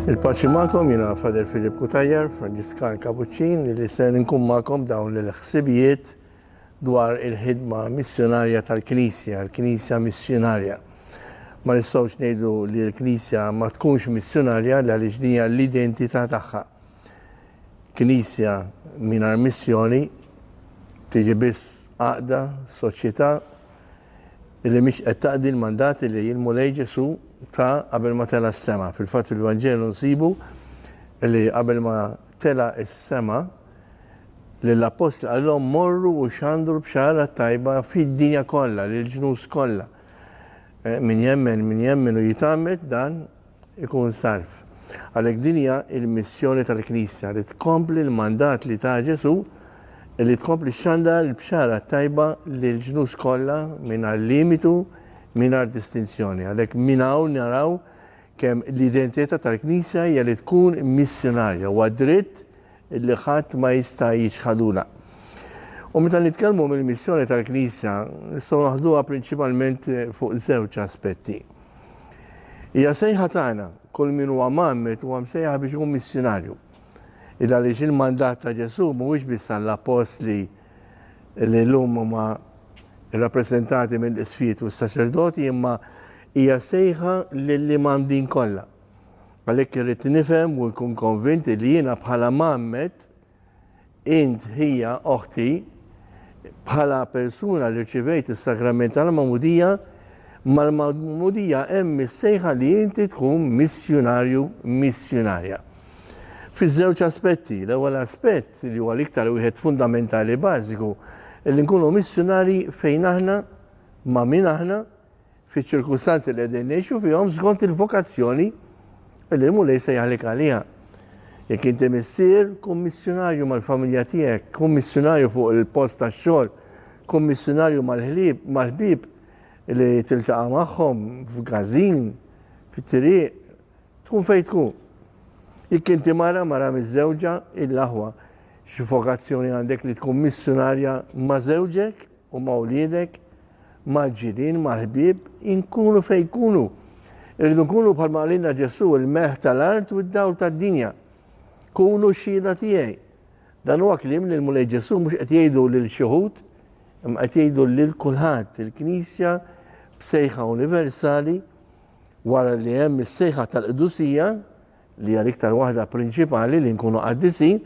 Il-paċi ma'kom jina Fader Filip Kutajjar, Franġiskan Kapuċċin, li se nkun ma'kom dawn l-ħsibijiet dwar il-ħidma missjonarja tal-Knisja, l-Knisja missjonarja. Ma nistgħux ngħidu li l-Knisja ma tkunx missjonarja għaliex dinja l-identità tagħha. Knisja mingħajr missjoni tiġi biss għaqda, soċjetà li mhix qed taqdi l-mandati li l-Mulej Ġesu ta qabel ma tela' s-sema. Fil-fatt fil-Vanġelu nsibu li qabel ma tela' s-sema lill-appostli qalhom morru u xandru bxara tajba fid-dinja kollha, lill-ġnus kollha. Eh, min jemmen, min jemmen u jitamet dan ikun salv. Għalhekk din hija l-missjoni tal-Knisja li tkompli l-mandat li ta Ġesù li tkompli xxandar il-bxara t-tajba lill-ġnus kollha mingħajr limitu, mingħajr distinzjoni. Għalhekk minn hawn naraw kemm l-identità tal-Knisja hija li tkun missjunarja. Huwa dritt Illi ħadd ma jista' jiċħadulha. U meta nitkellmu mill-missjoni tal-Knisja, nistgħu naħduha prinċipalment fuq żewġ aspetti. Hija sejħa tagħna, kull min huwa mgħammed huwa msejjaħ biex ikun missjunarju. Il għaliex il-mandat ta' Ġesù mhuwiex biss għall-appostli li llum huma rappreżentati mill-isfiet u s-saċerdoti imma hija sejħa lil-imgħamdin kollha. Għalhekk irrid nifhem u nkun konvint li jiena bħala mgħammed, int ħija oħti, bħala persuna li rċivejt is-sagrament tal-magħmudija, mal-magħmudija hemm is-sejħa li inti tkun missjunarju, missjunarja. Fiż-żewġ aspetti, l-ewwel aspett li huwa l-iktar wieħed fundamentali bażiku, li nkunu missjunarji fejn aħna, ma' min aħna, fiċ-ċirkustanzi li qegħdin ngħixu fihom skont il-vokazzjoni li l-Mulej sejjaħlek għaliha. Jekk inti missier, kun missjunarju mal-familja tiegħek, kun missjunarju fuq il-post tax-xogħol, kun missjunarju mal-ħlieb, mal-ħbieb li tiltaqa' magħhom f'gażin, fit-triq, tkun fejn tkun. Jekk inti mara mara miż-żewġa il-aħwa xi vokazzjoni għandek li tkun missjunarja ma' żewġek Huma wliedek, mal-ġirien, mal-ħbieb, inkunu fejn jkunu. Irridu nkunu bħal maqalina Ġesu, il-melħ tal-art u d-dawl tad-dinja. Kunu xhieda tiegħi. Dan huwa kliem li l-Mulej Ġesu mhux qed jgħidu lil xi ħud, imma qed jgħidu lil kulħadd il-Knisja b'sejħa universali wara li hemm is-sejħa tal-qdusija li hija l-iktar waħda prinċipali li nkunu qaddisin,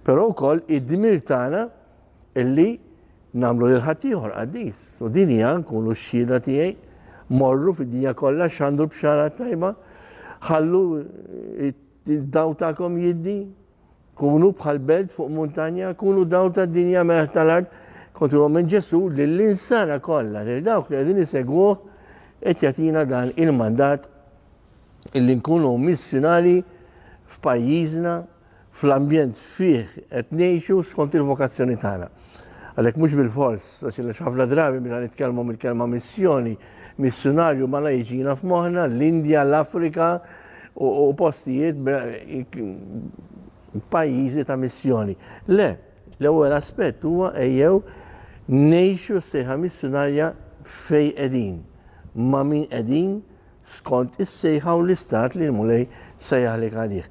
però wkoll id-dmir tagħna Illi nagħmlu lil ħaddieħor qaddis. U din hija nkunu x-xhieda tiegħi morru fid-dinja kollha x'għandu l-bxara tajba, ħallu id-daw tagħkom jiddi, kunu bħal belt fuq muntanja, kunu daw tad-dinja meħ tal-art, kontu minn Ġesu lill-insara kollha, lil dawk li qegħdin isegwuh qed jagħtina dan il-mandat illi nkunu missjonari f'pajjiżna fl-ambjent fih qed ngħixu skont il-vokazzjoni tagħna. Għalhekk mhux bilfors, għax inna ħafna drabi meta nitkellmu mill-kelma missjoni, missunarju mala jiġina f'moħħna l-Indja, l-Afrika u postijiet pajjiżi ta' missjoni. Le, l-ewwel aspett huwa ejjew ngħixu sejħa missunarja fej qegħdin, ma' min qegħdin, skont is-sejħa u l-istat li l-Mulej sejjaħlek għalih.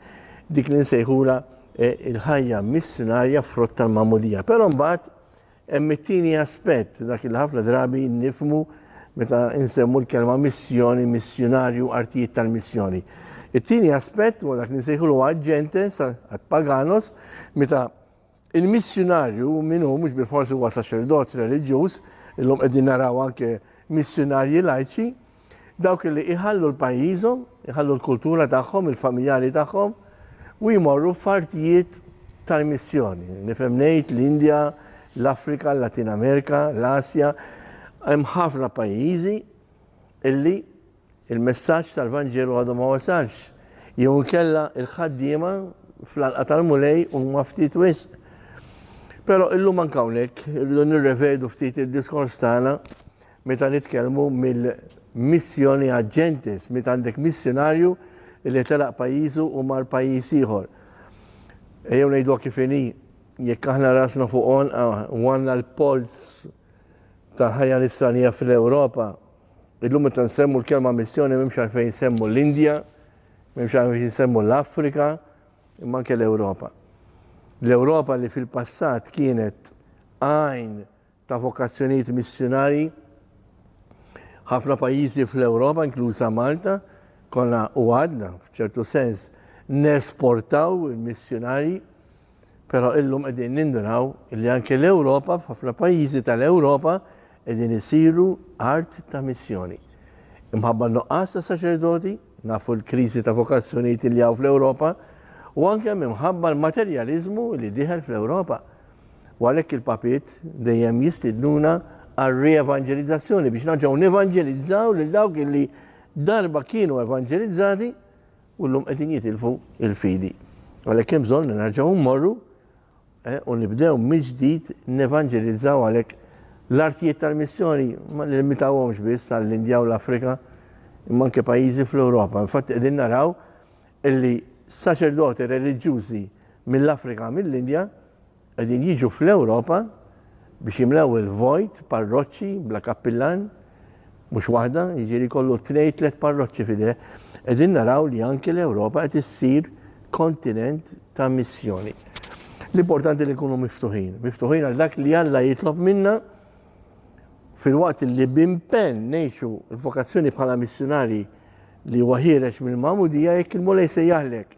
Dik li nsejħulha il-ħajja missjunarja frott tal-magħmudija. Però mbagħad hemm it-tieni aspett dak li ħafna drabi nifmu meta insemmu l-kelma missjoni, missjunarju, artijiet tal-missjoni. It-tieni aspett huwa dak li nsejħulu aġentes, għad paganos, meta Il-missjunarju min hu mhux bilfors huwa saċerdot reliġjuż, illum qegħdin naraw anke missjunarji lajċi, dawk li iħallu l-pajjiżhom, iħallu l-kultura tagħhom, il-familjari tagħhom u jmorru f'artijiet tal-missjoni. Nifhem ngħid l-Indja, l-Afrika, l-Latin Amerika, l-Asja, hemm ħafna pajjiżi illi il-messaġġ tal-Vanġelu għadu ma wasalx, jew inkella l-ħaddiema fl-għalqa tal-Mulej huma ftit wisq. Però illum anke hawnhekk irridu nirrevedu ftit id-diskors tagħna meta nitkellmu mill-missjoni għaġ-ġentis, meta għandek missjonarju li telaq pajjiżu u mar pajjiż ieħor. Ejjew ngħidu kif inhi, jekk aħna rasna fuq għonqa u għandna l-polz tal-ħajja nisranija fl-Ewropa, Illum meta nsemmu l-kelma missjoni m'hemmx għalfejn nsemmu l-Indja, m'hemmx għalfejn nsemmu l-Afrika, imma anke l-Ewropa. L-Ewropa li fil-passat kienet għajn ta' vokazzjonijiet missjonari ħafna pajjiżi fl-Ewropa, inkluża Malta, konna u għadna f'ċertu sens nesportaw il-missjonari Però illum qegħdin ninduraw li anke l-Ewropa f'ħafna pajjiżi tal-Ewropa qegħdin isiru art ta' missjoni. Imħabba nuqqas ta' saċerdoti, nafu l-kriżi ta' vokazzjonijiet li hawn fl-Ewropa, u anke minħabba l-materjaliżmu li diħel fl-Ewropa. U għalhekk il-papiet dejjem jistidnuna għal rievanġelizzazzjoni biex naġgħu nevanġelizzaw lil dawk li darba kienu evanġelizzati u llum qegħdin jitilfu l-fidi. Għalhekk hemm bżonn li nerġgħu mmorru u nibdew mill-ġdid nevanġelizzaw għalhekk l-artijiet tal-missjoni ma nillimitawhomx biss għall-Indja u l-Afrika imma anke pajjiżi fl-Ewropa. Infatti qegħdin naraw illi saċerdoti reliġjużi mill-Afrika mill-Indja Qegħdin jiġu fl-Ewropa biex jimlew il-vojt parroċċi bla kappillan, mhux waħda, jiġieri jkollu tnejn tliet parroċċi f'idejh. Qegħdin naraw li anki l-Ewropa qed issir kontinent ta' missjoni. L-importanti li nkunu miftuħin, miftuħin għal dak li Alla jitlob minna fil-waqt li bimpen nejxu l-vokazzjoni bħala missjonari li huwa ħierex mill-mamudija jekk il-mulej se jaħlek.